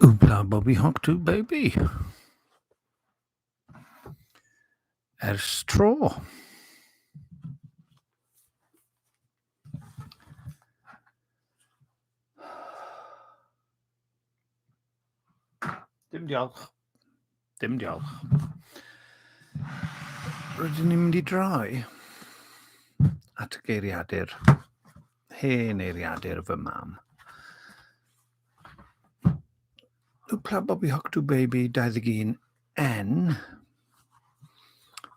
Oopla Bobby Hawk to baby. Ers tro. Dim diolch. Dim diolch. Rydyn ni'n mynd i droi at y geiriadur, hen eiriadur fy mam. Lwpla Bobby Hoctu Baby 21 N.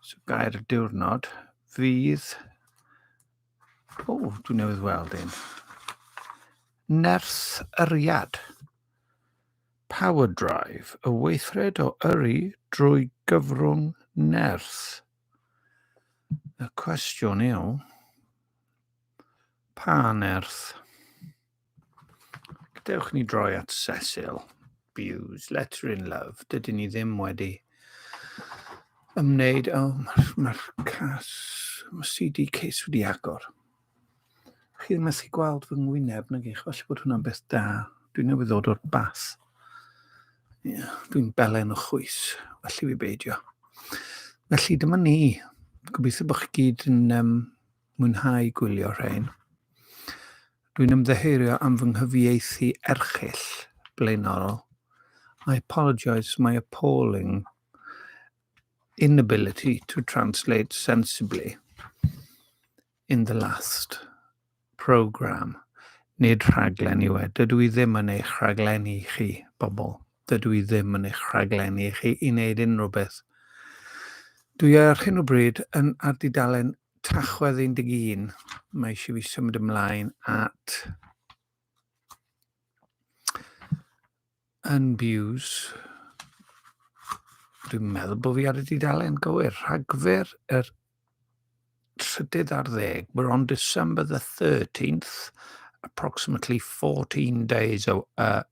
So gair y diwrnod fydd... O, dwi'n newydd weld un. Nerth Yriad. Power Drive, y weithred o yrru drwy gyfrwng nerth. Y cwestiwn yw, pa nerth? Dewch ni droi at Cecil Bews, Letter in Love. Dydy ni ddim wedi ymwneud... O, oh, mae'r ma cas, mae CD case wedi agor. Chi ddim methu gweld fy ngwyneb na gych, falle bod hwnna'n beth da. Dwi'n newydd ddod o'r bath. Yeah, Dwi'n belen o chwys, felly fi beidio. Felly dyma ni. Gobeithio bod chi gyd yn um, mwynhau gwylio rhein. Dwi'n ymddeherio am fy nghyfieithu erchyll blaenorol. I apologise my appalling inability to translate sensibly in the last programme. Nid rhaglen yw e. Dydw i ddim yn eich rhaglen i chi, bobl. Dydw i ddim yn eich rhaglen i chi i wneud unrhyw beth. Dwi ar hyn o bryd yn ar dudalen Tachwedd 11, mae eisiau fi symud ymlaen at Unbuse. Dwi'n meddwl bod fi ar y dudalen gywir. Rhagfyr yr trydydd ar ddeg. We're on December the 13th, approximately 14 days uh,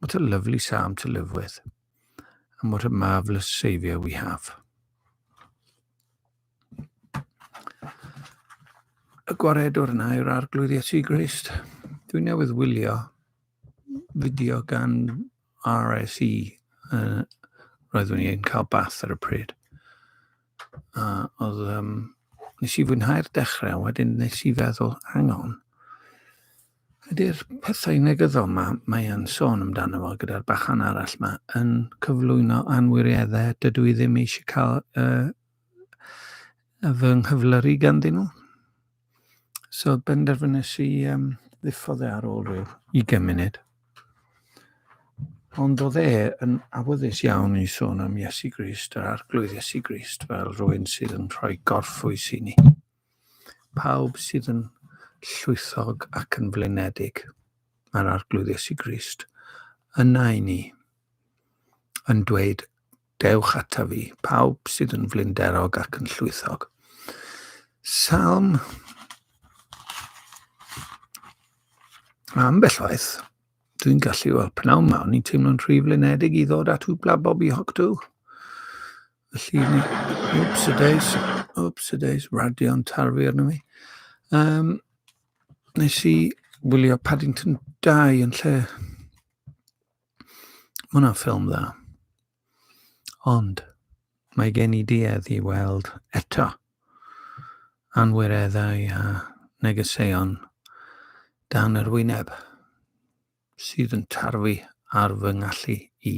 What a lovely psalm to live with. And what a marvellous Saviour we have. Y gwaredwr yna yw'r arglwydd Iesu Grist. Dwi'n newydd wylio fideo gan RSE. Uh, roeddwn i'n cael bath ar y pryd. Uh, oedd, um, nes i fwynhau'r dechrau, wedyn nes i feddwl, hang on, Ydy'r pethau negyddol mae mae'n sôn amdano fo gyda'r bachan arall yma yn cyflwyno anwirieddau dydw i ddim eisiau cael uh, fy nghyflyru ganddyn nhw. So benderfynus i um, ddiffodd e ar ôl rhyw 20 munud. Ond oedd e yn awyddus iawn i sôn am Iesu Grist, yr arglwydd Iesu Grist, fel rhywun sydd yn rhoi gorffwys i ni. Pawb sydd yn llwythog ac yn flinedig, mae'r Arglwydd Iesu Grist yna i ni, yn dweud, dewch ata fi, pawb sydd yn flinderog ac yn llwythog. Salm am bellaeth, dwi'n gallu, wel, pnawn ma, o'n i'n teimlo'n rhy flinedig i ddod at hwbla Bobby Hogdw. Felly, wps y deis, wps y deis, radio'n tarfu arno fi. Um, nes i wylio Paddington 2 yn lle. Mae hwnna'n ffilm dda. Ond, mae gen i duedd i weld eto anwireddau a negeseuon dan yr wyneb. sydd yn tarfu ar fy ngallu i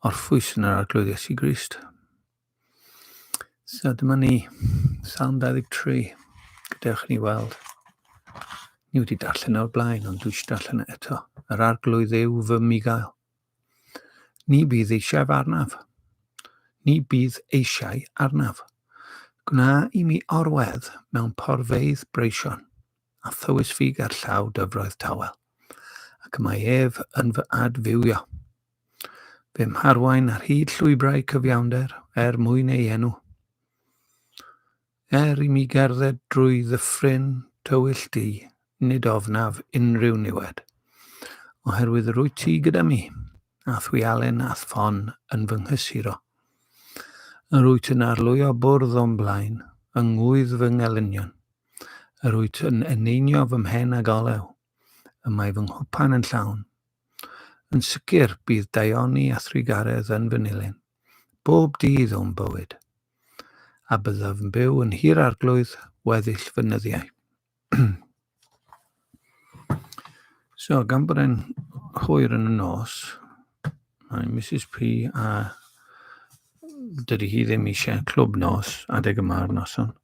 orffwys yn yr Arglwydd Iesu Grist. So dyma ni, Salm 23, gadewch ni weld. Ni wedi darllen o'r blaen, ond dwi eisiau darllen e eto. Yr arglwydd yw fy migael. Ni bydd eisiau arnaf. Ni bydd eisiau arnaf. Gwna i mi orwedd mewn porfeydd breision. a thywys fi ger llaw dyfroedd tawel, ac mae ef yn fy adfywio. Fe mharwain ar hyd llwybrau cyfiawnder er mwyn ei enw. Er i mi gerdded drwy ddyffryn tywyll di, nid ofnaf unrhyw niwed, oherwydd rwy ti gyda mi, a thwialen a thfon yn fy nghysuro. Yr wyt yn arlwyo bwrdd o'm blaen, yng ngwydd fy ngelynion. Yr wyt yn eneinio fy mhen ag olew, y mae fy nghwpan yn llawn. Yn sicr, bydd daioni a thrugaredd yn fy nilyn, bob dydd o'm bywyd. A byddaf yn byw yn hir arglwydd weddill fy nyddiau. so, gan bod e'n hwyr yn y nos, mae Mrs P a dydy hi ddim eisiau clwb nos adeg yma o'r noson.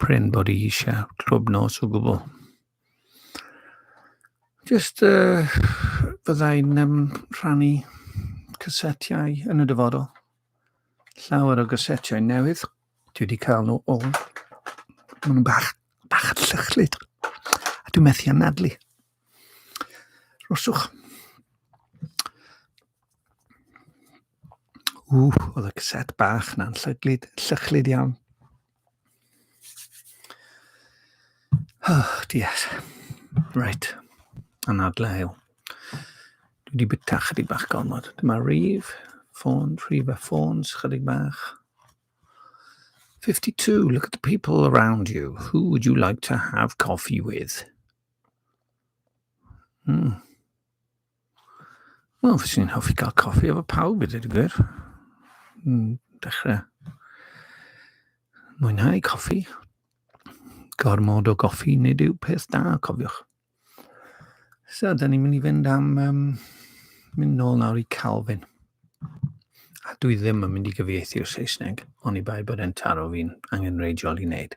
Prin bod i eisiau trwb nos o gwbl. Just uh, fyddai'n um, rhannu cysetiau yn y dyfodol. Llawer o gysetiau newydd. Dwi wedi cael nhw o. Maen nhw'n bach, bach llychlyd. A dwi'n methu anadlu. Roswch. Ww, oedd y cassette bach na'n llyglyd, llychlyd iawn. Oh, dies. Right. Anadle yw. Dwi wedi byta chydig bach gormod. Dyma rif, ffôn, rif a ffôns, chydig bach. 52. Look at the people around you. Who would you like to have coffee with? Hmm. Wel, fes i'n hoffi cael coffi efo pawb, ydy'r gwir. Hmm, dechrau mwynhau coffi. Gormod o goffi, nid yw peth da, cofiwch. So, da ni'n mynd i fynd am um, mynd nôl nawr i Calvin. A dwi ddim yn mynd i gyfieithu o'r Saesneg, ond i bai bod e'n taro fi'n angenreidiol i wneud.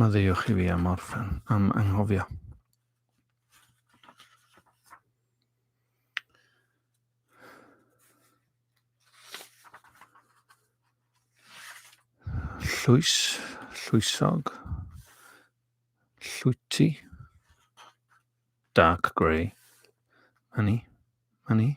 Maddeuwch i fi am orffen, am anghofio. Llwys, llwysog, llwyty, dark grey, money, money.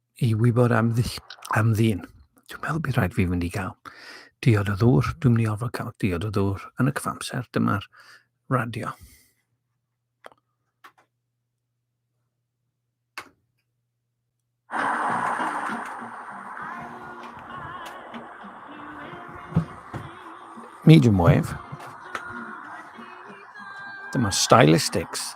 i wybod am, ddill, am ddyn. Dwi'n meddwl bydd rhaid fi fynd i gael diod o ddŵr. Dwi'n mynd i orfod cael diod o ddŵr yn y cyfamser. Dyma'r radio. Medium wave. Dyma stylistics.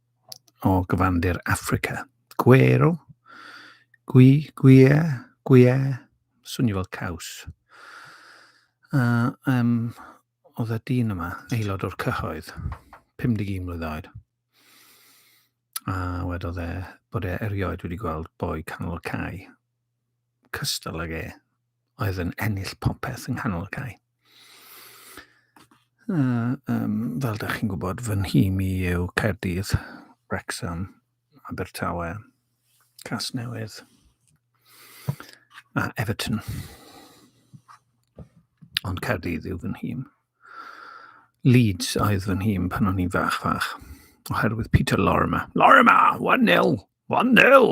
o gyfandir Affrica. Gwero, gwi, gwie, gwie, swnio fel caws. A um, oedd y dyn yma, aelod o'r cyhoedd, 51 mlynedd oed. A wedodd e bod e erioed wedi gweld boi canol y cae cystal ag e oedd yn ennill popeth yng nghanol y cae. A, um, fel da chi'n gwybod, fy nhîm i yw Caerdydd, Wrexham, Abertawe, Casnewydd a Everton. Ond Caerdydd yw fy nhîm. Leeds oedd fy nhîm pan o'n i'n fach fach, oherwydd Peter Lorimer. Lorimer, 1-0, 1-0!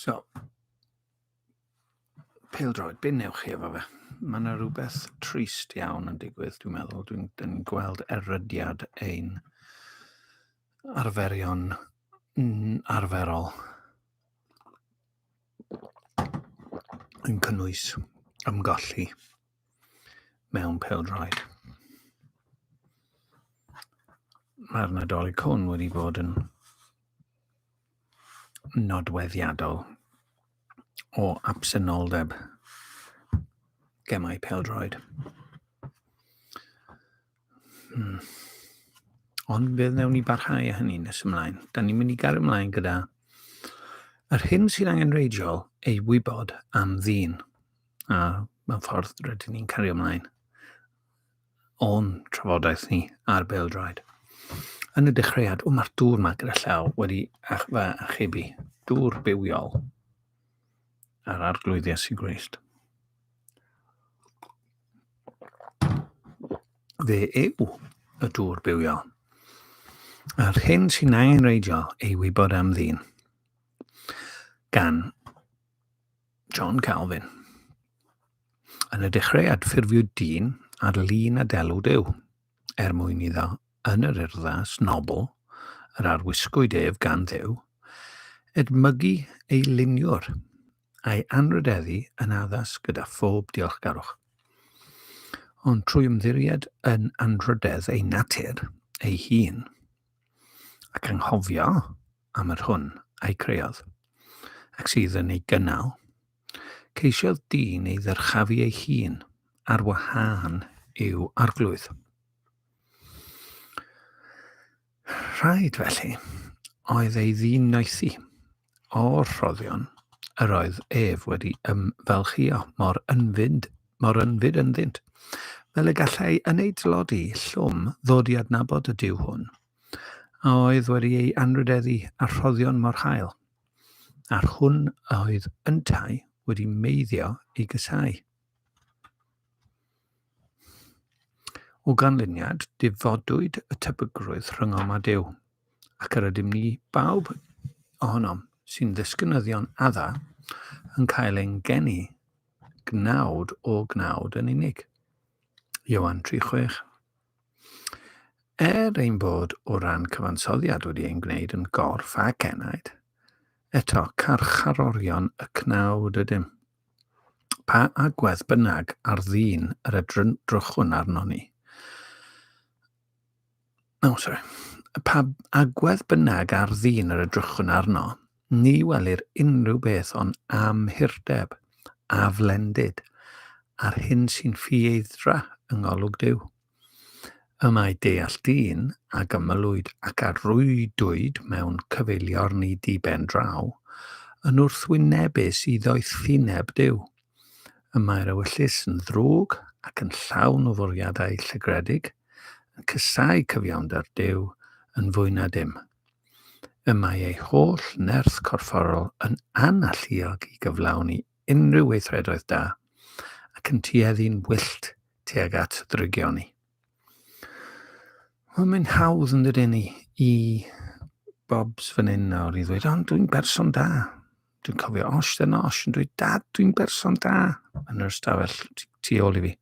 So, pêl droed, be newch chi efo fe? Mae yna rhywbeth trist iawn yn digwydd, dwi'n meddwl. Dwi'n dwi gweld erydiad ein arferion arferol yn cynnwys ymgolli mewn pêl-droed. Mae'r Nadolig hwn wedi bod yn nodweddiadol o absenoldeb gemau pêl-droed. Hmm. Ond fe wnewn ni barhau â hynny nes ymlaen. Da ni'n mynd i gael ymlaen gyda yr hyn sy'n angenreidiol ei wybod am ddyn. A mae'n ffordd rydyn ni'n cario ymlaen o'n trafodaeth ni ar Beldraed. Yn y dechreuad, o mae'r dŵr ma gyda llaw wedi ach fa achebu. Dŵr bywiol ar arglwydd Iesu Grist. Fe yw y dŵr bywiol. A'r hyn sy'n angenreidiol ei wybod am ddyn. Gan John Calvin. Yn y dechreuad, ffurfiwyd dyn ar lun a delw Duw, er mwyn iddo yn yr urddas nobl yr arwisgwyd ef gan Dduw, edmygu ei luniwr a'i anrhydeddu yn addas gyda phob diolchgarwch. Ond trwy ymddiried yn anrhydedd ei natur ei hun, ac anghofio am yr hwn a'i creodd, ac sydd yn ei gynnal, ceisiodd dyn ei ddyrchafu ei hun ar wahân i'w arglwydd. Rhaid felly oedd ei ddyn noethi O'r rhoddion yr oedd ef wedi ymfalchïo mor ynfyd, mor ynfyd ynddynt, fel y gallai yn ei dlodi llwm ddod i adnabod y Duw hwn, a oedd wedi ei anrhydeddu â rhoddion mor hael, a'r hwn a oedd yntau wedi meiddio ei gysau. O ganlyniad, difodwyd y tebygrwydd rhyngom a Duw, ac yr ydym ni bawb ohonom sy'n ddisgynyddion adda yn cael ein geni gnawd o gnawd yn unig. Iowan 3.6 Er ein bod o ran cyfansoddiad wedi ein gwneud yn gorff ac enaid, eto carcharorion y cnawd ydym. Pa agwedd bynnag ar ddyn yr edrychwn arnon ni, ni welir unrhyw beth ond amhurdeb a flendid a'r hyn sy'n ffieidra yng ngolwg Duw. Y mae deall dyn ag ymylwyd ac a rwydwyd mewn cyfeiliorn i ddiben draw, yn wrthwynebus i ddoethineb Duw. Y mae'r ewyllys yn ddrwg ac yn llawn o fwriadau llygredig, yn casáu cyfiawnder Duw yn fwy na dim. Y mae ei holl nerth corfforol yn analluog i gyflawni unrhyw weithredoedd da ac yn tueddu'n wyllt tuag at drygioni. Wel, mae'n hawdd yn dydyn ni i Bobs fan hyn nawr i ddweud, ond dwi'n berson da. Dwi'n cofio os dyn os yn dweud, dad, dwi'n berson da yn yr ystafell tu ôl i fi.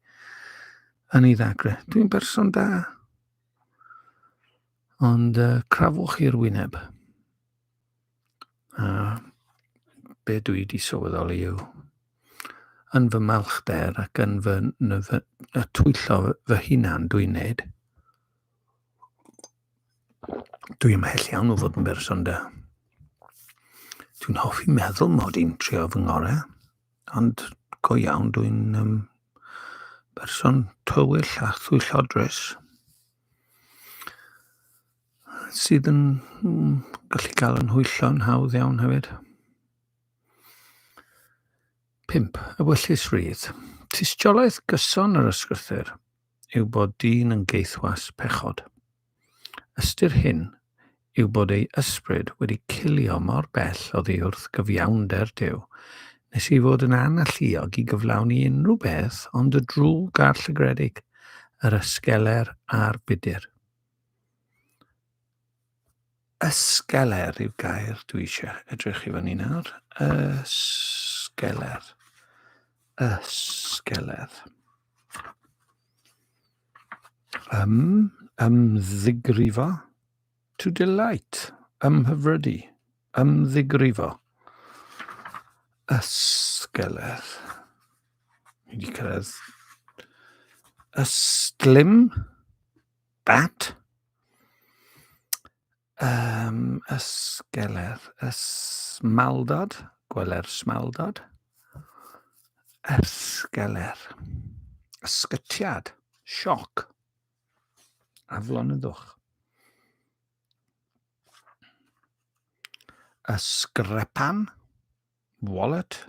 Yn ei ddagre, dwi'n berson da. Ond uh, crafwch i'r wyneb. A be dwi wedi sylweddoli yw, yn fy malchder ac yn fy, yn fy y twyllo fy hunan dwi'n neud, dwi ymhell iawn o fod yn berson da. Dwi'n hoffi meddwl mod i'n trio fy ngore, ond go iawn dwi'n um, berson tywyll a thwyllodrus. sydd yn mm, gallu cael yn hwyllo'n hawdd iawn hefyd. 5. Ewyllys rydd. Tystiolaeth gyson yr ysgrythyr yw bod dyn yn geithwas pechod. Ystyr hyn yw bod ei ysbryd wedi cilio mor bell oddi wrth gyfiawnder Dyw, nes i fod yn analluog i gyflawni unrhyw beth ond y drwg a'r llygredig, yr ysgeler a'r budur. Ysgeler yw gair dwi eisiau edrych i fyny nawr. Ysgeler. Ysgeler. Ym, ymddigrifo. To delight. Ymhyfrydu. Ymddigrifo. Ysgeler. Ni wedi cyrraedd. Ystlum. Bat? Um, ysgeler. Ysmaldod. Gweler smaldod. Ysgeler. Ysgytiad. Sioc. Aflonyddwch. Ysgrepan. Wallet.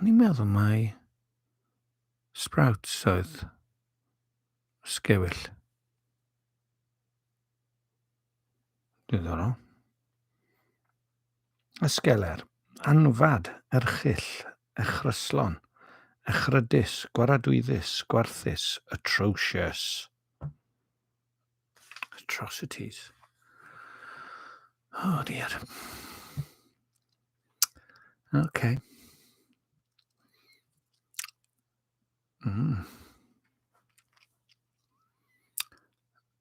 O'n i'n meddwl mai sprouts oedd sgewyll. Diddorol. Ysgeler, anfad, erchyll, echryslon, echrydus, gwaradwyddus, gwarthus, atrocious. Atrocities. Oh dear. Okay. Mm.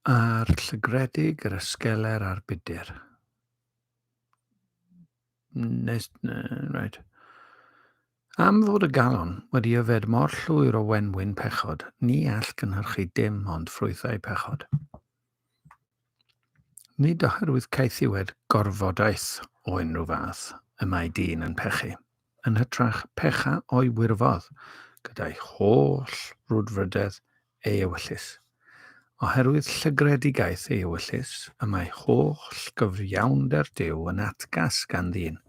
A'r llygredig, yr ysgeler a'r budur. Nes... Reit. Am fod y galon wedi yfed mor llwyr o wenwyn pechod, ni all gynhyrchu dim ond ffrwythau pechod. Nid oherwydd caethiwed gorfodaeth o unrhyw fath y mae dyn yn pechu, yn hytrach pecha o'i wirfodd gyda'i holl frwdfrydedd ei ewyllys. Oherwydd llygredigaeth ei ewyllys y mae holl gyfiawnder Duw yn atgas gan ddyn,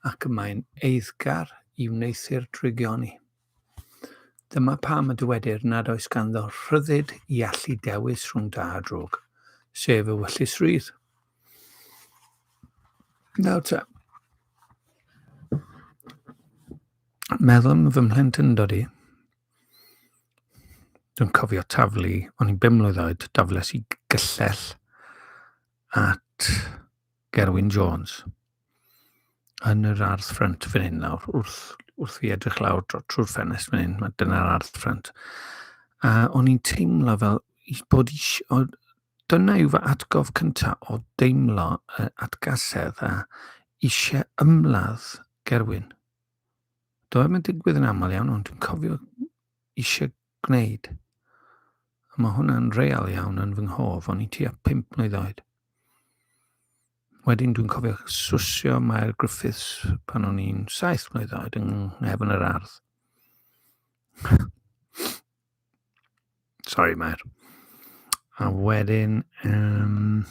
ac y mae'n eiddgar i wneuthur drygioni. Dyma pam y dywedir nad oes ganddo rhyddid i allu dewis rhwng da a drwg, sef ewyllys rydd. Nawr ta, meddwl fy mhlentyndod i, Dwi'n cofio taflu, o'n i'n bum mlwydd oed, dafles i gyllell at Gerwyn Jones yn yr ardd ffrynt fan hyn nawr, wrth, wrth fi edrych lawr trwy'r ffenest fan hyn, dyna'r ardd ffrynt. A o'n i'n teimlo fel i bod eisiau, dyna yw fy atgof cyntaf o deimlo uh, atgasedd a eisiau ymladd Gerwyn. Doedd yn digwydd yn aml iawn, ond dwi'n cofio eisiau gwneud. A mae hwnna'n real iawn yn fy nghof, o'n i tua 5 mlynedd oed. Wedyn dwi'n cofio swsio Mair Griffiths pan o'n i'n 7 mlynedd oed yng nghefn yr ardd. Sorry, Mair. A wedyn... Um,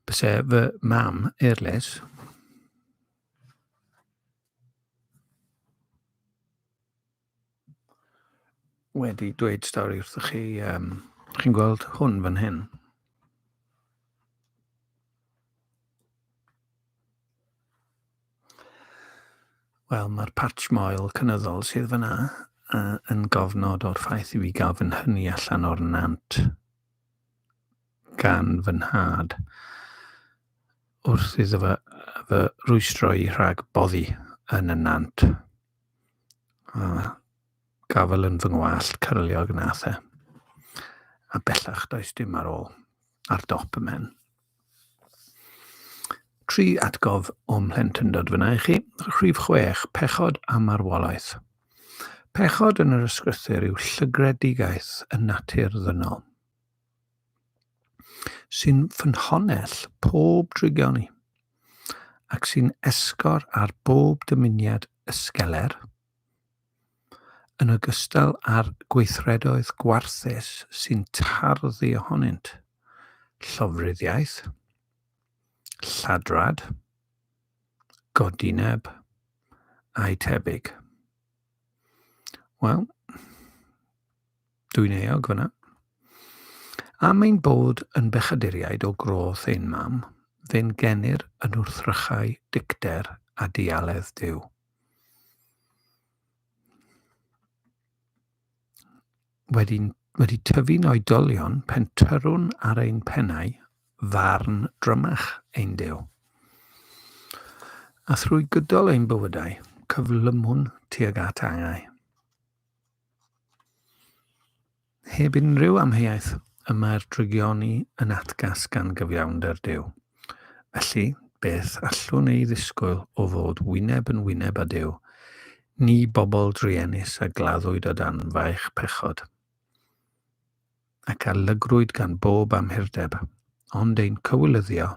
Byse fy mam, er les. wedi dweud stori wrthych chi, um, chi'n gweld hwn fan hyn. Wel, mae'r patch moel cynyddol sydd fyna uh, yn gofnod o'r ffaith i fi gael fy nhynnu allan o'r nant. gan fy nhad wrth iddo fy, fy rwystro i rhag boddi yn y nant. A gafel yn fy ngwallt cyrliog nath e. A bellach does dim ar ôl, ar dop y men. Tri atgof o'm mhlentyndod f'yna i chi. Rhif chwech, pechod a marwolaeth. Pechod yn yr ysgrythur yw llygredigaeth y natur ddynol, sy'n ffynhonell pob drygion ni, ac sy'n esgor ar bob dymuniad ysgeler, yn ogystal â'r gweithredoedd gwarthus sy'n tarddu ohonynt, llofruddiaeth, lladrad, godineb, a'u tebyg. Wel, dwi'n eog fyna. Am ein bod yn bechaduriaid o groth ein mam, fe'n genir yn wrthrychau dicter a dialedd Duw. wedi, wedi tyfu'n oedolion pentyrwn ar ein pennau farn drymach ein dew. A thrwy gydol ein bywydau, cyflymwn tuag at angau. Heb unrhyw amheuaeth, y mae'r drygioni yn atgas gan gyfiawnder Duw. Felly, beth allwn ei ddisgwyl o fod wyneb yn wyneb â Duw, ni bobl druenus a gladdwyd o dan faich pechod, ac a lygrwyd gan bob amhurdeb, ond ein cywilyddio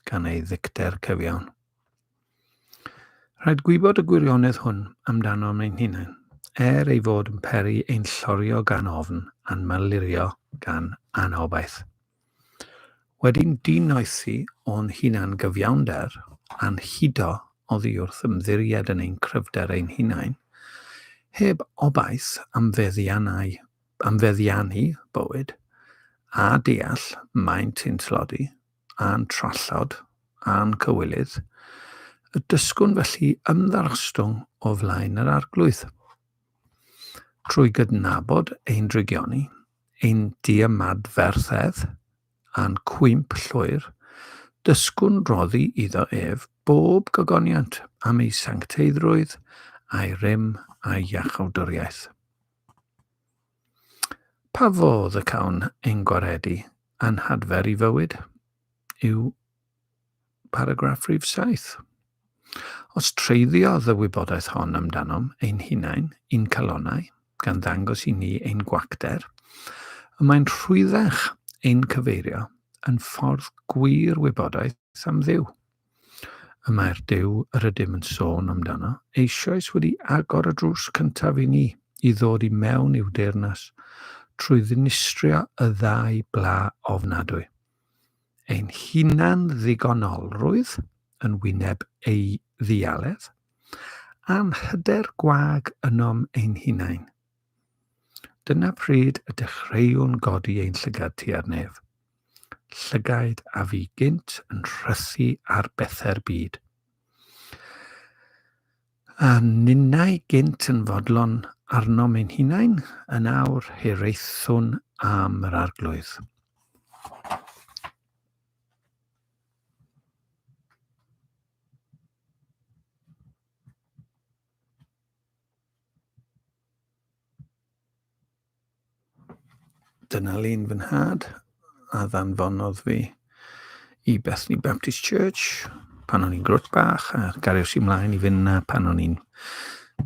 gan ei ddicter cyfiawn. Rhaid gwybod y gwirionedd hwn amdanom ein hunain, er ei fod yn peri ein llorio gan ofn a'n malurio gan anobaith. Wedi'n dinoethi o'n hunan-gyfiawnder a'n hudo oddi wrth ymddiried yn ein cryfder ein hunain, heb obaith am feddiannau, am feddiannu bywyd, a deall maent yn tlodi, a'n trallod a'n cywilydd, y dysgwn felly ymddangostwng o flaen yr Arglwydd. Trwy gydnabod ein drygioni, ein diymadferthedd, a'n cwymp llwyr, dysgwn roddi iddo ef bob gogoniant am ei sancteiddrwydd, a'i rym, a'i iachawdwriaeth. Pa fodd y cawn ein gwaredu a'n hadfer i fywyd? yw paragraff rhif saith. Os treiddiodd y wybodaeth hon amdanom ein hunain, i'n calonnau, gan ddangos i ni ein gwacter, y mae'n rhwyddach ein cyfeirio yn ffordd gwir wybodaeth am Dduw. Y mae'r Duw yr ydym yn sôn amdano eisoes wedi agor y drws cyntaf i ni i ddod i mewn i'w deyrnas trwy ddinistrio y ddau bla ofnadwy. Ein hunan ddigonolrwydd yn wyneb ei ddialedd, a'n hyder gwag ynom ein hunain. Dyna pryd y dechreuwn godi ein llygad tua'r nef. Llygaid a fu gynt yn rhysu ar bethe'r byd. A ninnau gynt yn fodlon arnom ein hunain, yn awr hiraethwn am yr arglwydd. Dyna lun fy nhad a ddanfonodd fi i Bethany Baptist Church pan o'n i'n grwt bach a gariwch i mlaen i fynd na pan o'n i'n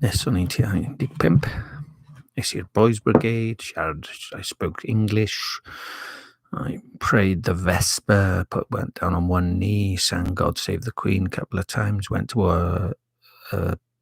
nes o'n i'n tua 15. Nes i'r Boys Brigade, siarad, I spoke English, I prayed the Vesper, put, went down on one knee, sang God Save the Queen a couple of times, went to a, a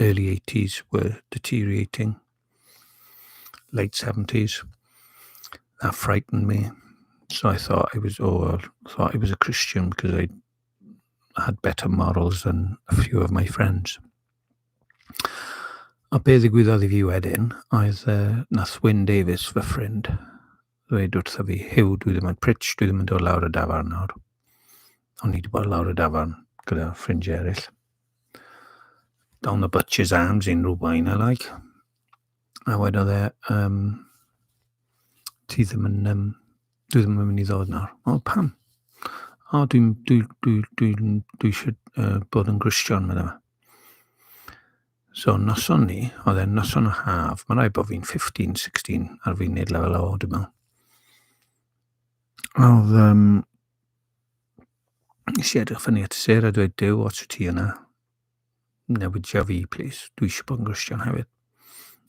early 80s were deteriorating, late 70s. That frightened me. So I thought I was, or oh, thought I was a Christian because I had better morals than a few of my friends. A be ddigwyddodd i fi wedyn oedd uh, nath Wyn Davies, fy ffrind, ddweud wrtho fi, Huw, dwi ddim yn pritch, dwi ddim yn dod lawr y dafarn nawr. O'n ni wedi bod lawr y dafarn gyda ffrindiau eraill. Down the butcher's arms, unrhyw wain I like. A wedodd e, um, ti ddim yn, um, dwi ddim yn mynd i ddod nawr. O, pam? O, dwi'n dwi, dwi, dwi, dwi, dwi eisiau uh, bod yn Gristion, meddwl. So noson ni, oedd e'n noson o haf, mae'n rhaid bod fi'n 15, 16 ar fi'n neud lefel o, dwi'n meddwl. Oedd, um, nes i edrych fyny at y ser a dweud, Dyw, os wyt ti yna, newidio fi, plis, dwi eisiau bod yn Gristion hefyd.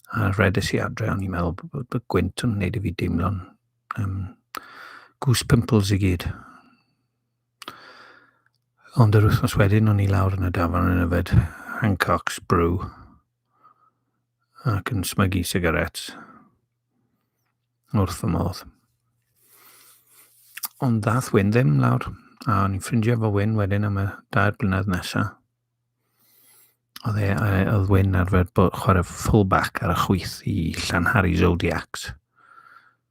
A rhedus i adre, o'n i'n meddwl bod, bod, bod gwynt yn gwneud i fi deimlo'n um, goose pimples i gyd. Ond yr wythnos wedyn, o'n i lawr yn y dafarn yn yfed Hancock's Brew ac yn smygu sigaret wrth y modd. Ond ddath Wyn ddim lawr, a o'n i'n ffrindio fo Wyn wedyn am y dair blynedd nesaf. Oedd e, oedd Wyn arfer chwarae fullback ar y chwyth i Llanhari Zodiacs.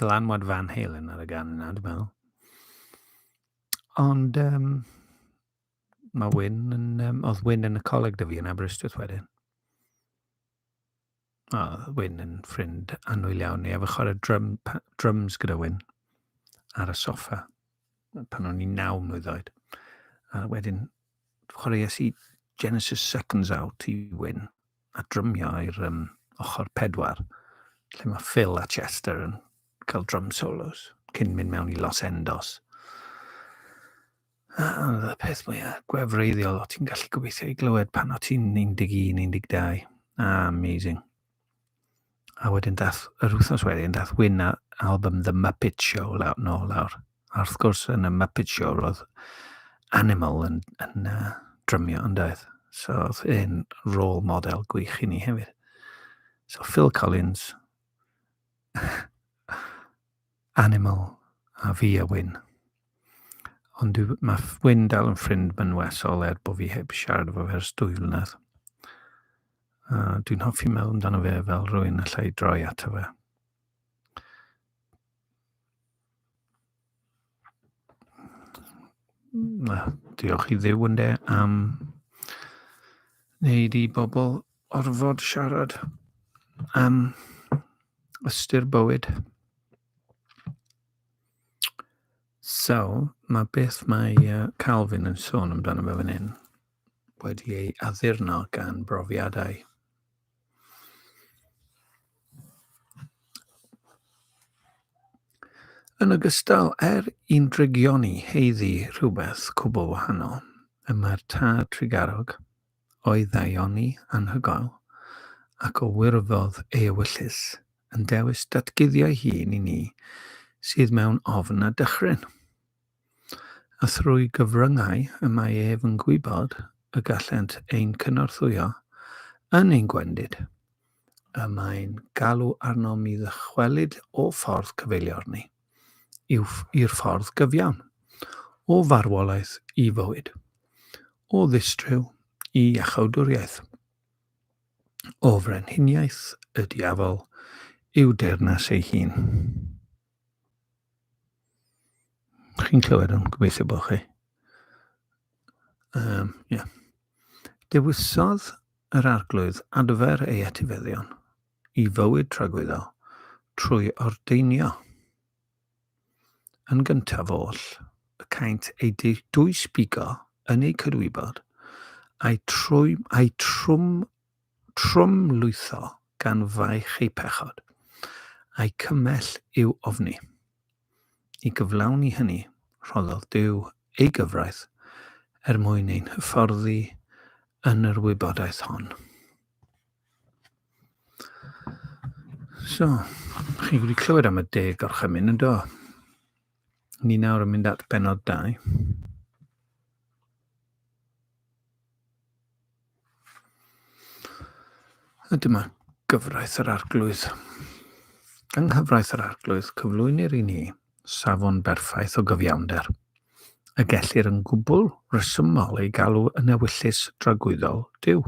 dylanwad Van Halen ar y gan yna, dwi'n meddwl. Ond um, mae Wyn yn, um, oedd Wyn yn y coleg dy fi yn Aberystwyth wedyn. O, Wyn yn ffrind anwyl iawn ni, a fy chwarae drum, drums gyda Wyn ar y soffa pan o'n i'n naw mlynedd oed. A wedyn chwaraeais i Genesis Seconds Out i win, a drymio i'r um, ochr pedwar, lle mae Phil a Chester yn cael drum solos, cyn mynd mewn i Los Endos. A oedd y peth mwyaf gwefreiddiol o ti'n gallu gobeithio i glywed pan o ti'n 11, 12. A, amazing. A wedyn dath, yr wythnos wedyn, dath Wyn a album The Muppet Show law, nôl lawr. A wrth gwrs, yn y Muppet Show, roedd Animal yn, yn uh, drymio yn doedd. So, oedd e'n rôl model gwych i ni hefyd. So, Phil Collins, Animal a fi a Wyn. Ond dwi, mae Wyn dal yn ffrind mynwesol er bod fi heb siarad efo fe ers dwy flynedd. Uh, dwi'n hoffi meddwl amdano fe fel rwy'n allai droi ato fe. Diolch i ddew ynde am wneud i bobl orfod siarad am ystyr bywyd. So, mae beth mae uh, Calvin yn sôn amdano fe fan hyn wedi ei addurno gan brofiadau. Yn ogystal, er i'n drygion ni heiddi rhywbeth cwbl wahanol, y mae'r tad trigarog o'i ddaioni anhygoel ac o wirfodd ei ewyllys yn dewis datguddio'i hun i ni sydd mewn ofn a dychryn. a thrwy gyfryngau y mae ef yn gwybod y gallent ein cynorthwyo yn ein gwendid, y mae'n galw arnom i ddychwelyd o ffordd cyfeilior ni i'r ffordd gyfiawn, o farwolaeth i fywyd, o ddistryw i iachawdwriaeth, o frenhiniaeth y diafol i'w deyrnas ei hun. Chi'n clywed o'n gobeithio bod chi. Um, yeah. Dewisodd yr arglwydd adfer ei etifeddion i fywyd tragwyddo trwy ordeinio yn gyntaf oll y caint ei dwysbigo yn ei cydwybod a'i, trwy, a'i trwm Trwmlwytho gan faich eu pechod, a'u cymell i'w ofni. I gyflawni hynny, rhoddodd Duw ei gyfraith er mwyn ein hyfforddi yn yr wybodaeth hon. So, chi wedi clywed am y deg gorchymyn yn do? Ni nawr yn mynd at benod 2. A dyma gyfraith yr arglwydd. Yng nghyfraith yr arglwydd cyflwynir i ni safon berffaith o gyfiawnder, y gellir yn gwbl resymol ei galw yn ewyllys dragwyddol Duw.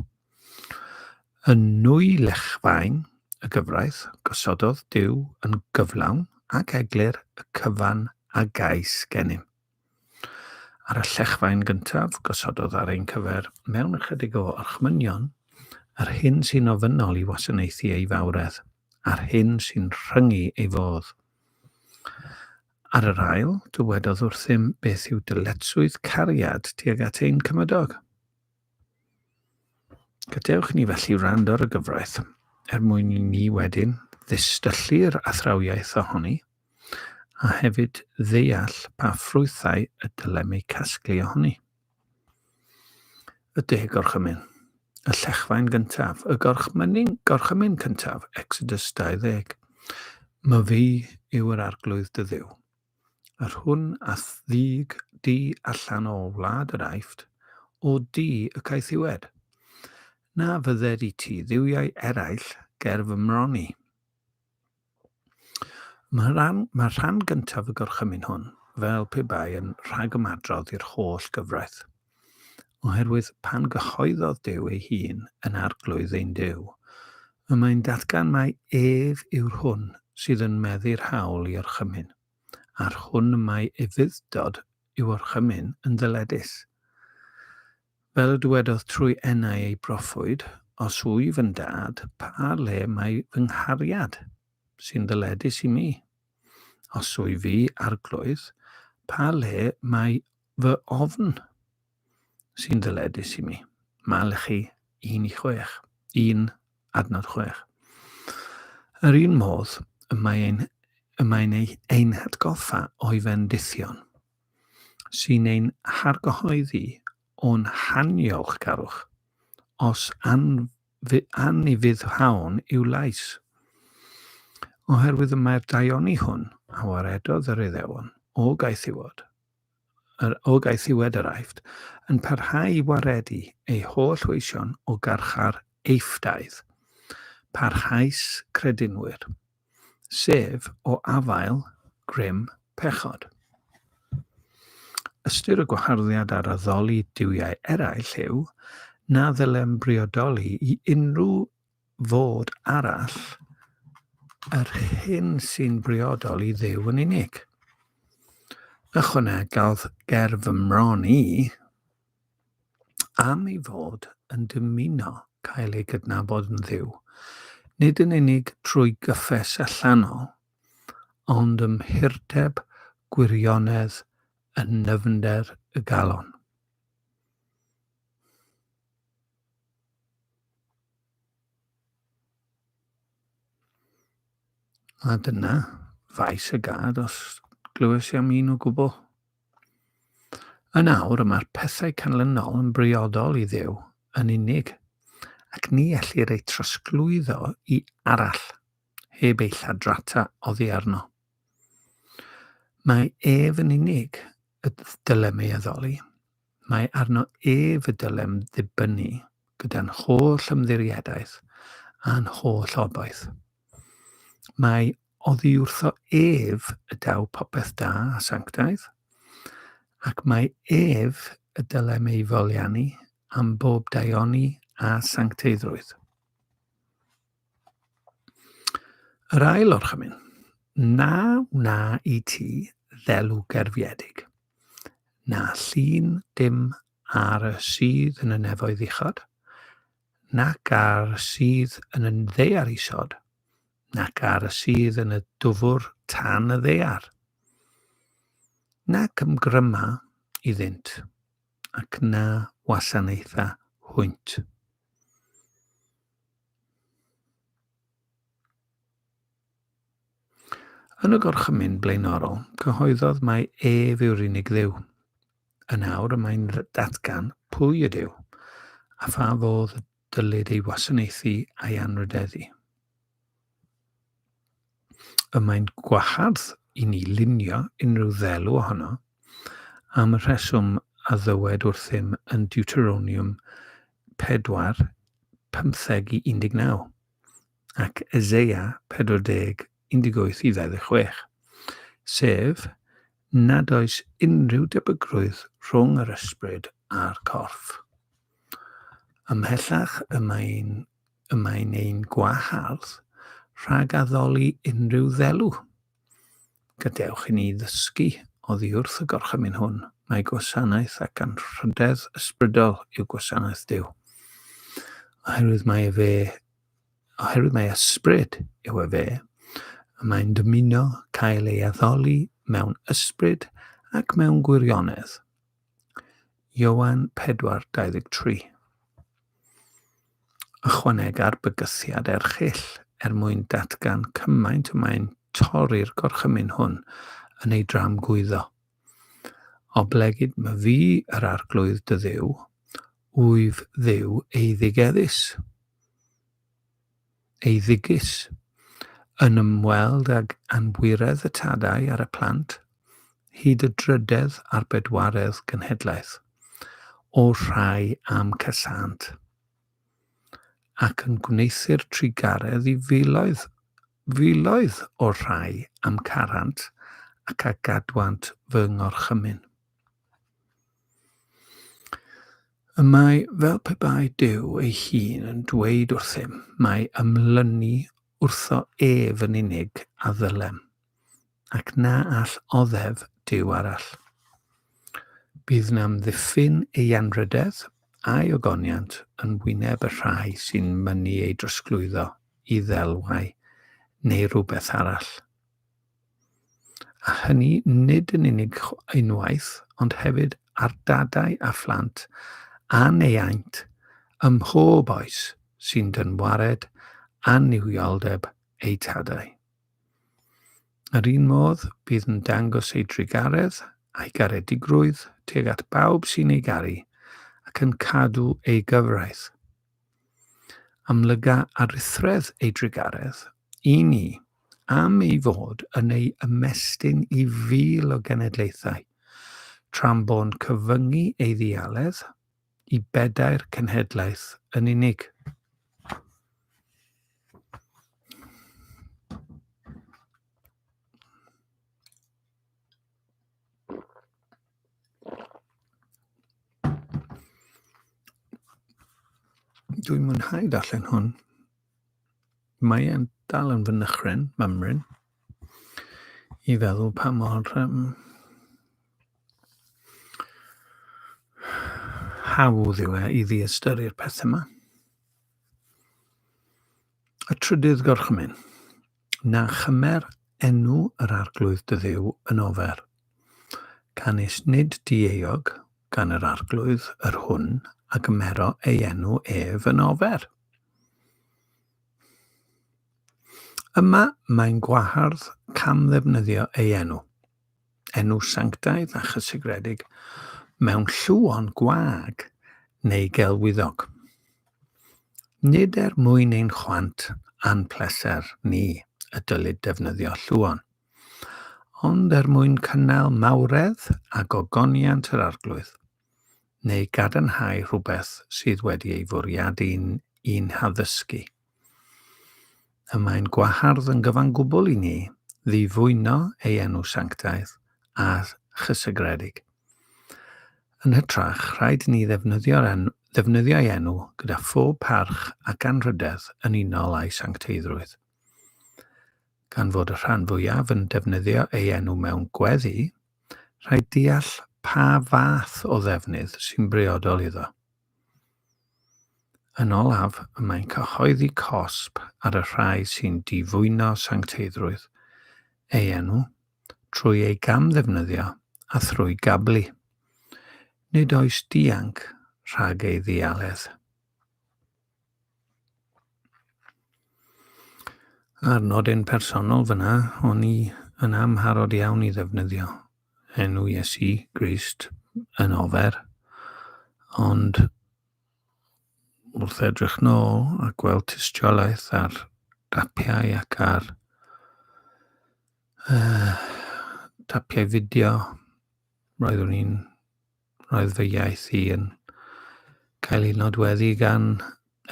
Yn nwy lechfaen y gyfraith, gosododd Duw yn gyflawn ac eglur y cyfan a gais gennym. Ar y llechfaen gyntaf, gosododd ar ein cyfer, mewn ychydig o orchmynion, yr hyn sy'n ofynnol i wasanaethu ei fawredd, a'r hyn sy'n rhyngu ei fodd. Ar yr ail, dywedodd wrthym beth yw dyletswydd cariad tuag at ein cymydog. Gadewch ni felly wrando ar y gyfraith, er mwyn i ni wedyn ddistyllu'r athrawiaeth ohoni, a hefyd ddeall pa ffrwythau y dylem eu casglu ohoni. Y deg gorchymyn, y llechfaen gyntaf, y gorchmynyn, gorchymyn cyntaf, Exodus 20. Myfi yw yr arglwydd dy ddiw. Yr hwn a ddug di allan o wlad yr Aifft, o du y caethiwed. Na fydded i ti dduwiau eraill ger fy mron i. Mae rhan, mae rhan gyntaf y gorchymyn hwn fel pe bai yn rhagymadrodd i'r holl gyfraith. Oherwydd pan gyhoeddodd Duw ei hun yn Arglwydd ein Duw, y mae'n datgan mai ef yw'r hwn sydd yn meddu'r hawl i orchymyn, a'r hwn y mae efuddod i'w orchymyn yn ddyledus. Fel y dywedodd trwy enau ei broffwyd, os wyf yn dad, pa le mae fy nghariad, sy'n ddyledus i mi? Os wyf fi arglwydd, pa le mae Fy ofn sy'n ddyledus i mi. Malchi 1 i 6. 1 adnod 6. Yr un modd y mae ein, y mae'n ei, ein hatgoffa o'i fendithion, sy'n ein hargyhoeddi o'n haniolchgarwch, os an, anifyddhawn i'w lais. Oherwydd y mae'r daioni hwn a waredodd yr Iddewon o gaethiwod, yr Ogaethiwed yr Aifft, yn parhau i waredu ei holl weision o garchar Eiffdaidd. Parhaus credinwyr. Sef, o afael, grym, pechod. Ystyr y gwaharddiad ar addoli duwiau eraill yw na ddylem briodoli i unrhyw fod arall yr hyn sy'n briodol i Dduw yn unig. Ychwanegodd ger fy mron i, am ei fod yn dymuno cael ei gydnabod yn ddiw, nid yn unig trwy gyffes allanol, ond ym mhurdeb gwirionedd yn nyfnder y galon. A dyna faes y gad os glywes i am un o gwbl. Yn awr y mae'r pethau canlynol yn briodol i ddew yn unig, ac ni ellir eu trosglwyddo i arall, heb ei lladrata oddi arno. Mae ef yn unig y dylem ei addoli, Mae arno ef y dylem ddibynnu gyda'n holl ymddiriedaeth a'n holl obaith. Mae oddiwrtho ef y daw popeth da a sanctaidd, ac mae ef y dylem ei foliannu am bob daioni a sancteiddrwydd. Yr ail orchymyn, na wna i ti ddelw gerfiedig. Na llun dim ar y sydd yn y nefoedd uchod, nac ar y sydd yn y ddaear isod, nac ar y sydd yn y dwfr tan y ddaear. Nac ymgryma iddynt, ac na wasanaetha hwynt. Yn y gorchymyn blaenorol, cyhoeddodd mai ef yw'r unig dduw. Yn awr y mae'n datgan pwy y duw, a pha fodd y dylid ei wasanaethu a'i anrhydeddu. Y mae'n gwahardd i ni lunio unrhyw ddelw ohono am y rheswm a ddywed wrthym yn Deuteronium 4, 15 i 19. ac Eseia 40, 18-26, sef, nad oes unrhyw debygrwydd rhwng yr ysbryd a'r corff. Ymhellach y mae'n y mae'n ein gwahardd rhag addoli unrhyw ddelw. Gadewch i ni ddysgu oddi wrth y gorchymyn hwn, mae gwasanaeth ac anrhydedd ysbrydol yw gwasanaeth Dyw, oherwydd mae efe oherwydd mae ysbryd yw e fe, y mae'n dymuno cael ei addoli mewn ysbryd ac mewn gwirionedd. Ioan 4:23 Ychwanega'r bygythiad erchill er mwyn datgan cymaint y mae'n torri'r gorchymyn hwn yn ei dramgwyddo. Oblegid my fi yr arglwydd dy ddiw, Wyf Dduw eiddigeddus, eiddigus, yn ymweld ag anwiredd y tadau ar y plant, hyd y drydedd a'r bedwaredd genhedlaeth, o'r rhai a'm casânt, ac yn gwneuthur trugaredd i filoedd, filoedd o'r rhai a'm carant ac a gadwant fy ngorchymyn. Y mae fel pe bai Duw ei hun yn dweud wrthym, mae ymlynu wrtho ef yn unig a ddylem, ac na all oddef Duw arall. Bydd namddiffyn ei anrhydedd a'i ogoniant yn wyneb y rhai sy'n mynnu ei drosglwyddo i ddelwau neu rywbeth arall. a hynny nid yn unig unwaith ond hefyd ar dadau a phlant a'n neiaint ym mhob oes sy'n dynwared annuwioldeb eu tadau. Yr un modd, bydd yn dangos ei drugaredd a'i garedigrwydd tuag at bawb sy'n ei garu ac yn cadw ei gyfraith. Amlyga aruthredd ei drugaredd i ni am ei fod yn ei ymestyn i fil o genedlaethau, tra'n bo'n cyfyngu ei ddialedd i bedair cenhedlaeth yn unig. Dwi'n mwynhau darllen hwn. Mae e'n dal yn fy nychryn, mymryn, i feddwl pa mor um, hawdd yw e i ddiystyru'r pethau yma. Y trydydd gorchymyn. Na chymer enw yr Arglwydd dy Dduw yn ofer. Canys nid dieuog gan yr Arglwydd yr hwn a gymero ei enw ef yn ofer. Yma mae'n gwahardd camddefnyddio ei enw. enw sanctaidd a chysegredig mewn llwon gwag neu gelwyddog. Nid er mwyn ein chwant a'n pleser ni y dylid defnyddio llwon, ond er mwyn cynnal mawredd a gogoniant yr Arglwydd. neu gadarnhau rhywbeth sydd wedi ei fwriadu i'n haddysgu. Y mae'n gwahardd yn gyfan gwbl i ni ddifwyno ei enw sanctaidd a chysegredig. Yn hytrach, rhaid ni ddefnyddio'r en ddefnyddio'i enw gyda phob parch ac anrhydedd yn unol â'i sancteiddrwydd. Gan fod y rhan fwyaf yn defnyddio ei enw mewn gweddi, rhaid deall pa fath o ddefnydd sy'n briodol iddo. Yn olaf, y mae'n cyhoeddi cosb ar y rhai sy'n difwyno sancteiddrwydd ei enw trwy ei gamddefnyddio a thrwy gablu. Nid oes dianc rhag ei ddialedd. A'r nodyn personol fyna, o'n i yn amharod iawn i ddefnyddio enw Iesu Grist yn ofer, ond wrth edrych nôl a gweld tystiolaeth ar dapiau ac ar uh, tapiau fideo, roeddwn i'n Roedd fy iaith i yn cael ei nodweddu gan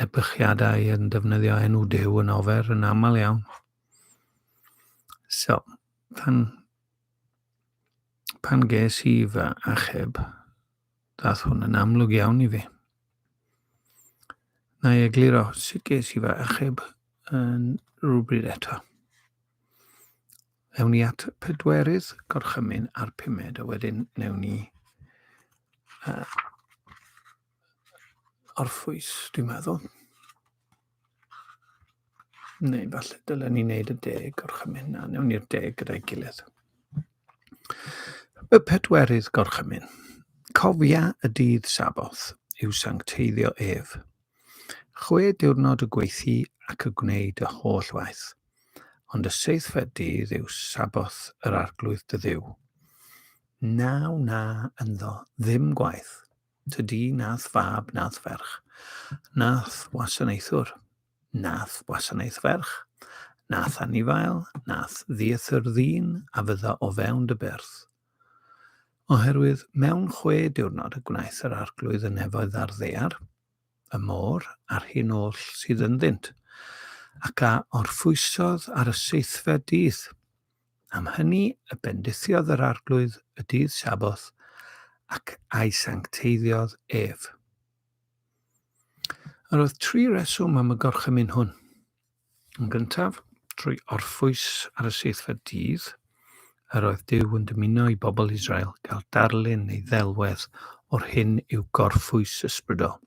ebychiadau yn defnyddio enw Duw yn ofer yn aml iawn. So, pan, pan ges i fy achub, dath hwn yn amlwg iawn i fi. Na i egluro sut ges i fy achub yn rhywbryd eto. Ewn ni at pedwerydd gorchymyn a'r pumed, a wedyn newn ni uh, orffwys, dwi'n meddwl. Neu falle dylen ni wneud y deg gorchymyn na, newn ni'r deg gyda'i gilydd. Y pedwerydd gorchymyn. Cofia y dydd saboth yw sancteiddio ef. Chwe diwrnod y gweithi ac y gwneud y holl waith. ond y seithfed dydd yw Sabboth yr Arglwydd dy Dduw. Na wna ynddo ddim gwaith, tydi nath fab nath ferch, nath wasanaethwr, nath wasanaeth ferch, nath anifail, nath ddiethyr ddyn a fydda o fewn dy byrth. Oherwydd mewn chwe diwrnod y gwnaeth yr arglwydd y nefoedd a'r ddear, y môr a'r hyn oll sydd ynddynt, ac a orffwysodd ar y seithfed dydd. Am hynny y bendithiodd yr arglwydd y dydd Saboth, ac a'i sancteiddiodd ef. Yr oedd tri reswm am y gorchymyn hwn. Yn gyntaf, trwy orffwys ar y seithfed dydd, yr oedd Duw yn dymuno i bobl Israel gael darlun neu ddelwedd o'r hyn yw gorffwys ysbrydol.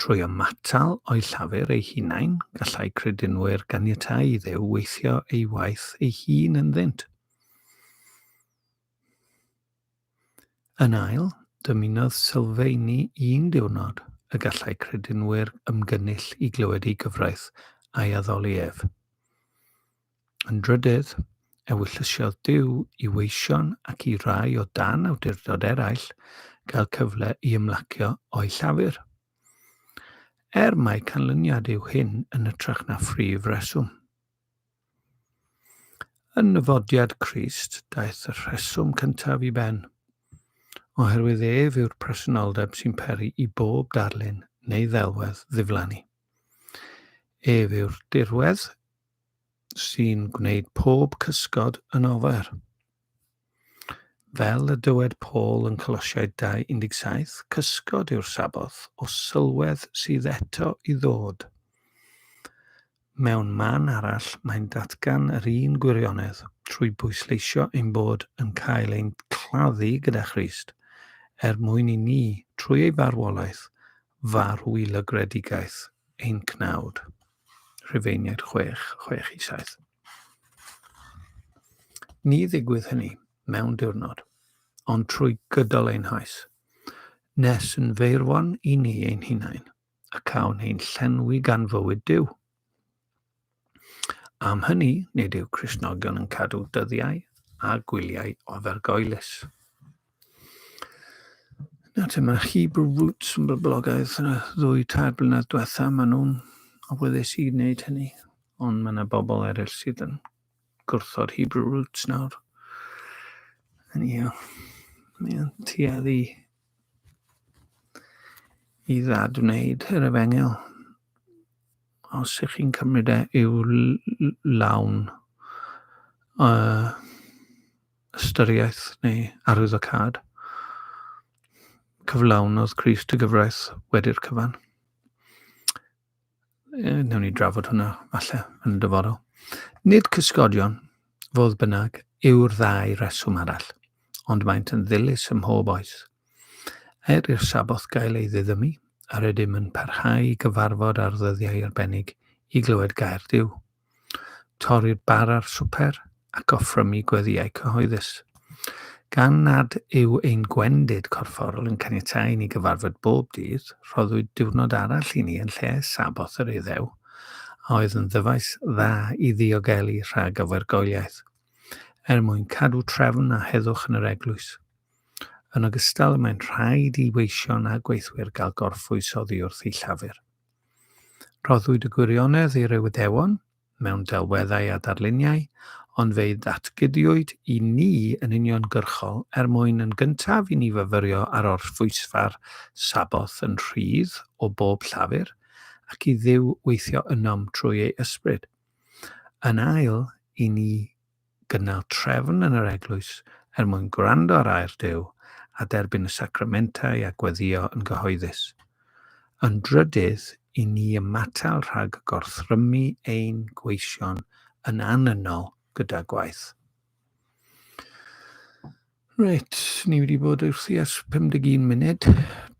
Trwy ymatal o'i llafur ei hunain, gallai credinwyr ganiatau i ddew weithio ei waith ei hun ynddynt. Yn ail, dymunodd sylfeini un diwrnod y gallai credinwyr ymgynnull i glywed ei gyfraith a'i addoli ef. Yn drydydd, ewyllyssiodd Duw i weision ac i rai o dan awdurdod eraill gael cyfle i ymlacio o'i llafur. Er mai canlyniad yw hyn yn ytrach na phrif reswm. Yn nyfodiad Crist daeth y rheswm cyntaf i ben, oherwydd ef yw'r presenoldeb sy'n peri i bob darlun neu ddelwedd ddiflannu. Ef yw'r dirwedd sy'n gwneud pob cysgod yn ofer. Fel y dywed Paul yn Colosiaid 2:17, cysgod yw'r Sabboth o sylwedd sydd eto i ddod. Mewn man arall, mae'n datgan yr un gwirionedd trwy bwysleisio ein bod yn cael ein claddu gyda Christ, er mwyn i ni, trwy ei farwolaeth, farw i lygredigaeth ein cnawd. Rhufeiniaid 6, 6 i 7. Ni ddigwydd hynny mewn diwrnod, ond trwy gydol ein haes, nes yn feirwon i ni ein hunain, a cawn ein llenwi gan fywyd Dyw. Am hynny, nid yw Crisnogion yn cadw dyddiau a gwyliau ofergoelus. Na, te mae Hebrew Roots yn boblogaidd yn y ddwy tair blynedd diwetha, maen nhw'n awyddus i wneud hynny, ond mae yna bobl eraill sydd yn gwrthod Hebrew Roots nawr. Yn ia, mae'n tuedd i i ddad wneud yr efengil. Os ych chi'n cymryd e i'w lawn, uh, ystyriaeth neu arwyddocâd. Cyflawnodd Christ y gyfraith wedi'r cyfan. E, newn ni drafod hwnna falle yn y dyfodol. Nid cysgodion, fodd bynnag, yw'r ddau reswm arall, ond maent yn ddilys ym mhob oes. Er i'r saboth gael ei ddiddymu, a rydym yn parhau i gyfarfod ar ddyddiau arbennig i glywed gair Dyw. torri'r bar a'r swper ac offrymu gweddïau cyhoeddus. Gan nad yw ein gwendid corfforol yn caniatáu i ni gyfarfod bob dydd, rhoddwyd diwrnod arall i ni yn lle Saboth yr Iddew, a oedd yn ddyfais dda i ddiogelu rhag ofergoeliaeth, er mwyn cadw trefn a heddwch yn yr eglwys. Yn ogystal, mae'n rhaid i weision a gweithwyr gael gorffwys oddi wrth eu llafur. Rhoddwyd y gwirionedd i'r Iwydewon mewn delweddau a darluniau, ond fe'i ddatgydiwyd i ni yn uniongyrchol er mwyn yn gyntaf i ni fyfyrio ar orffwysfa'r Sabboth yn rhydd o bob llafur, ac i Dduw weithio ynom trwy ei Ysbryd. Yn ail, i ni gynnal trefn yn yr eglwys er mwyn gwrando ar air Duw a derbyn y sacramentau a gweddïo yn gyhoeddus. Yn drydydd, i ni ymatal rhag gorthrymu ein gweision yn annynnol gyda gwaith. Reit, ni wedi bod wrthi ers 51 munud.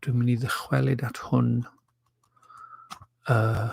Dwi'n mynd i ddychwelyd at hwn uh,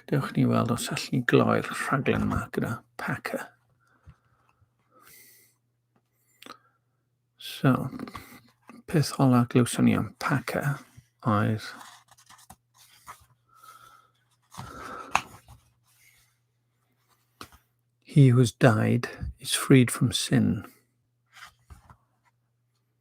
Gadewch ni weld os allwn ni gloi'r rhaglen yma gyda Packer. So, peth ola glywson ni am Packer oedd He who has died is freed from sin.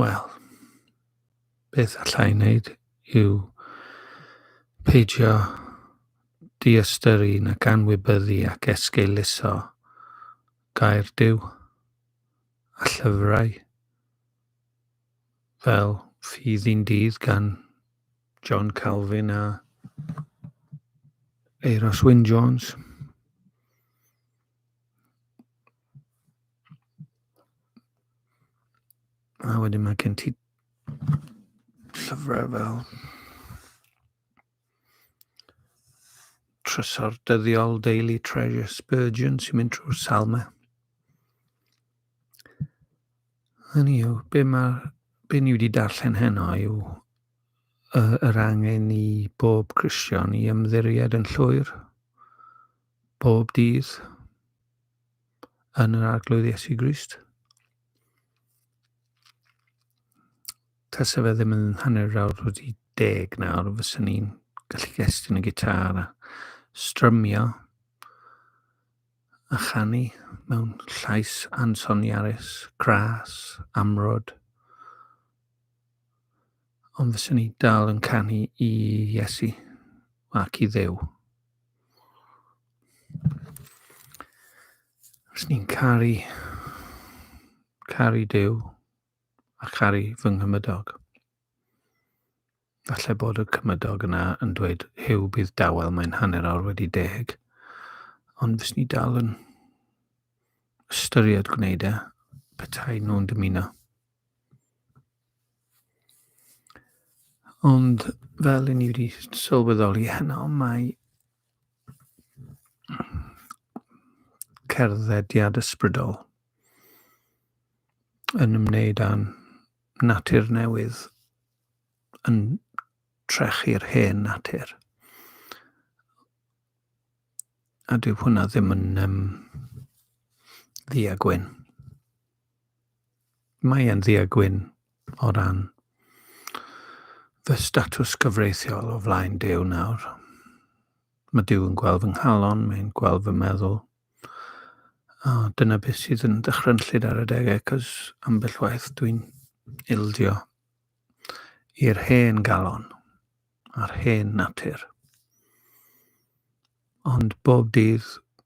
Wel, beth alla i wneud yw peidio diystyru nac anwybyddu ac esgeuluso gair Duw a llyfrau fel Ffydd i'n Dydd gan John Calvin a Euros Wyn Jones. A wedyn mae gen ti llyfrau fel trysor dyddiol Daily Treasure Spurgeon sy'n mynd trwy'r salmau. Hynny yw, be, ma, be ni wedi darllen heno yw yr angen i bob Christian i ymddiried yn llwyr bob dydd yn yr arglwydd Iesu Grist. Tasa fe ddim yn hanner awr wedi deg nawr, fyswn ni'n gallu gestyn y gitar a strymio a chanu mewn llais ansoniarus, gras, amrod. Ond fyswn ni dal yn canu i Iesu ac i ddew. Os ni'n caru, caru Dyw a charu fy nghymydog. Falle bod y cymydog yna yn dweud, Huw, bydd dawel, mae'n hanner awr wedi deg. Ond fes ni dal yn ystyried gwneud e, petai nhw'n dymuno. Ond fel i ni wedi sylweddoli heno, mae cerddediad ysbrydol yn ymwneud â'n natur newydd yn trechu'r hen natur. A dyw hwnna ddim yn um, ddi a gwyn. mae e'n ddu a gwyn o ran fy statws cyfreithiol o flaen Duw nawr. Mae Duw yn gweld fy nghalon, mae'n gweld fy meddwl. A dyna beth sydd yn dychrynllyd ar y degau, cos ambell waith dwi'n ildio i'r hen galon a'r hen natur. Ond bob dydd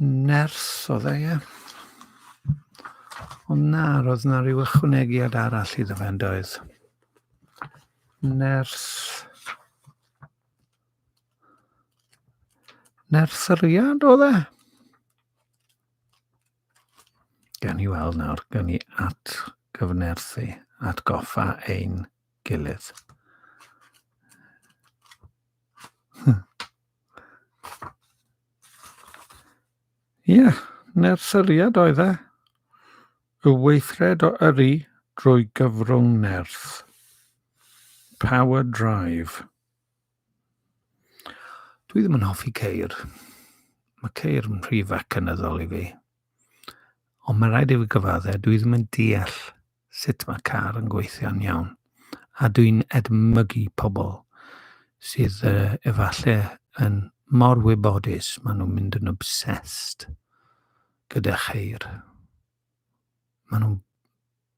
Ners oedd e, ie. Ond na, roedd yna rhyw ychwanegiad arall iddo fe yn doedd. Ners... Nerseriad oedd e? Gan i weld nawr, gan i at gyfnerthu, at goffa ein gilydd. Ie, yeah, neu'r syriad oedd e. Y weithred o yrru drwy gyfrwng nerth. Power Drive. Dwi ddim yn hoffi ceir. Mae ceir yn rhy fecanyddol i fi. Ond mae'n rhaid i fi gyfaddau, dwi ddim yn deall sut mae car yn gweithio'n iawn, a dwi'n edmygu pobl sydd uh, efallai yn mor wybodus, maen nhw'n mynd yn obsessed gyda cheir. Maen nhw'n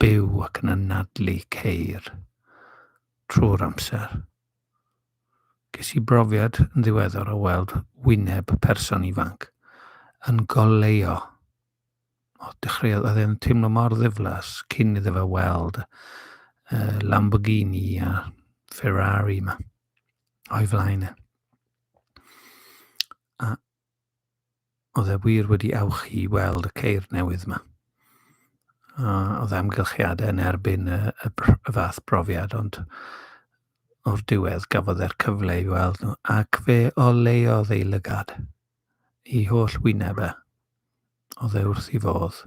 byw ac yn anadlu ceir trwy'r amser. Ges i brofiad yn ddiweddar o weld wyneb person ifanc yn goleo o dechreuodd oedd e'n teimlo mor ddiflas cyn iddo fe weld uh, Lamborghini a Ferrari yma o'i flaen e. A oedd e wir wedi awch i weld y ceir newydd yma. A oedd amgylchiadau yn erbyn y, y, y fath brofiad, ond o'r diwedd gafodd e'r cyfle i weld nhw, ac fe o leiodd ei lygad. i holl wyneb e. Oedd e wrth i fodd.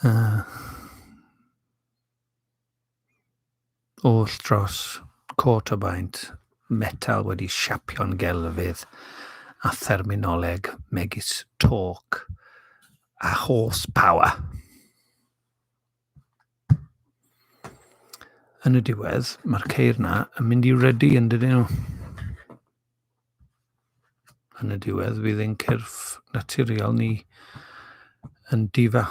Uh, oll dros cot o baent metal wedi siapio'n gelfydd a therminoleg megis torque a horsepower. Yn y diwedd, mae'r ceir na yn mynd i redu yn dydyn nhw. Yn y diwedd, fydd ein cyrff naturiol ni yn difa.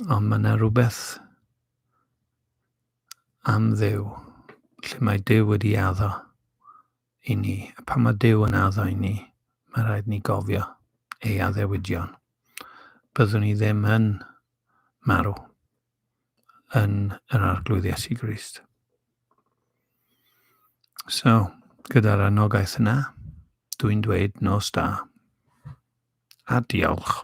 Ond mae yna rhywbeth am ddew, lle mae dew wedi addo i ni. A pan mae Duw yn addo i ni, mae rhaid ni gofio ei addewidion. Byddwn ni ddim yn marw yn yr arglwydd Iesu Grist. So, gyda'r anogaeth yna, dwi'n dweud nos da. A diolch.